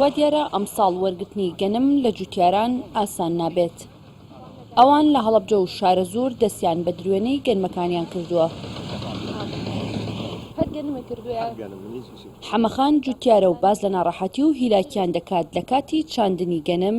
وا دیارە ئەمساڵ وەرگرتنی گەنم لە جوتیاران ئاسان نابێت، ئەوان لە هەڵەبجە و شارەزوور دەستیان بە دروێنەی گەنمەکانیان کردووە. حەمەخان جوتیارە و باس لە ناڕەحەتی و هیلاکیان دەکات لە کاتی چاندنی گەنم،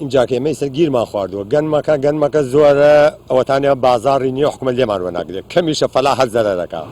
ئینجا کە ئێمەی سەر گیرمان خواردووە گەنمەکە گەنمەکە زۆرە ئەوەتانە بازاڕی نیە حکومەت لێمان وەناگرێت کەمیشە فەلا هەر زەرەرەکە.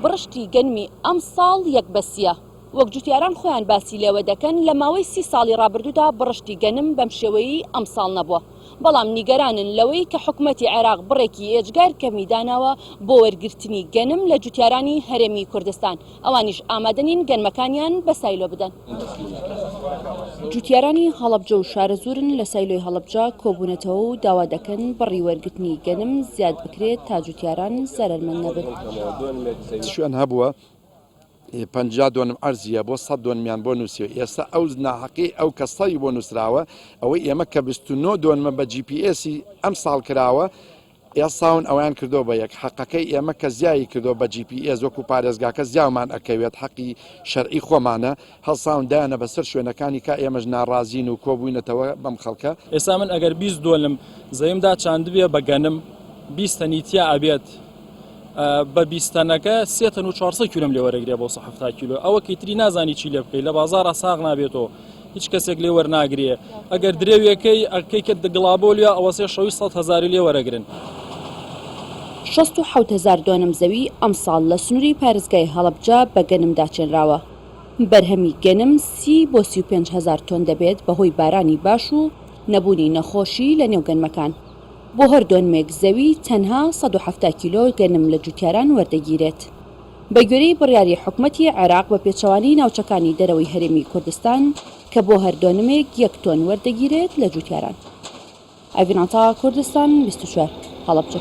بڕشتی گەنمی ئەمساڵ یەک بەسیە. وەک جوتیاران خۆیان باسی لێوە دەکەن لە ماوەی سی ساڵی ڕابردوودا بڕشتی گەنم بەم شێوەیەی ئەمساڵ نەبووە، بەڵام نیگەرانن لەوەی کە حکومەتی عێراق بڕێکی ئێجگار کەمی داناوە بۆ وەرگرتنی گەنم لە جوتیارانی هەرێمی کوردستان. ئەوانیش ئامادە نین گەنمەکانیان بە سایلۆ بدەن. جوتیارانی هەڵەبجە و شارەزوورن لە سایلۆی هەڵەبجە کۆبوونەتەوە و داوا دەکەن بڕی وەرگرتنی گەنم زیاد بکرێت تا جوتیاران زەرەرمەند نەبن. چ شوێن هەبووە پەنجا دۆنم عەرزییە بۆ سەد دۆنمیان بۆ نووسیوە ئێستا ئەو ناحەقیەی ئەو کەسەی بۆ نووسراوە ئەوەی ئێمە کە بیست و نۆ دۆنمە بە جی پی ئێسی ئەمساڵ کراوە ئێساون ئەویان کردوە بە یەک حەقەکەی ئێمە کە زیایی کردوە بە جی پی ئێس وەکو پارێزگاکە زیاومان ئەکەوێت حەقی شەرعی خۆمانە هەڵساون دایانە بەسەر شوێنەکانی کا ئێمەش ناڕازین و کۆبوینەتەوە بەم خەڵکە. ئێسا من ئەگەر بیست دۆنم زەیمدا چاندبێ بە گەنم بیست تەنی تیا ئەبێت بە بیست تەنەکە سێ تەن و چوار سەد کیلۆم لێوەرەگرێ بۆ سە حەفتا کیلۆ ئەوە کەیتری نازانی چی لێ بکەی لە بازاڕا ساغ نابێتەوە هیچ کەسێک لێ وەرناگرێ ئەگەر درێویەکەی ئەکەی کە دگڵابۆ لێ ئەوەسێ شەوی سەد هەزاری لێ وەرەگرن. شەست و حەوت هەزار دۆنم زەوی ئەمساڵ لە سنووری پارێزگای هەڵەبجە بە گەنم داچێنراوە. بەرهەمی گەنم سی بۆ سی و پێنج هەزار تۆن دەبێت بەهۆی بارانی باش و نەبوونی نەخۆشی لە نێو گەنمەکان. بۆ هەر دۆنمێک زەوی تەنها سەد و حەفتا کیلۆ گەنم لە جووتیاران وەردەگیرێت. بەگوێرەی بڕیاری حکومەتی عێراق بە پێچەوانەی ناوچەکانی دەرەوەی هەرێمی کوردستان کە بۆ هەر دۆنمێک یەک تۆن وەردەگیرێت لە جوتیاران. ئەڤین عەتا، کوردستان بیست و چوار، هەڵەبجە.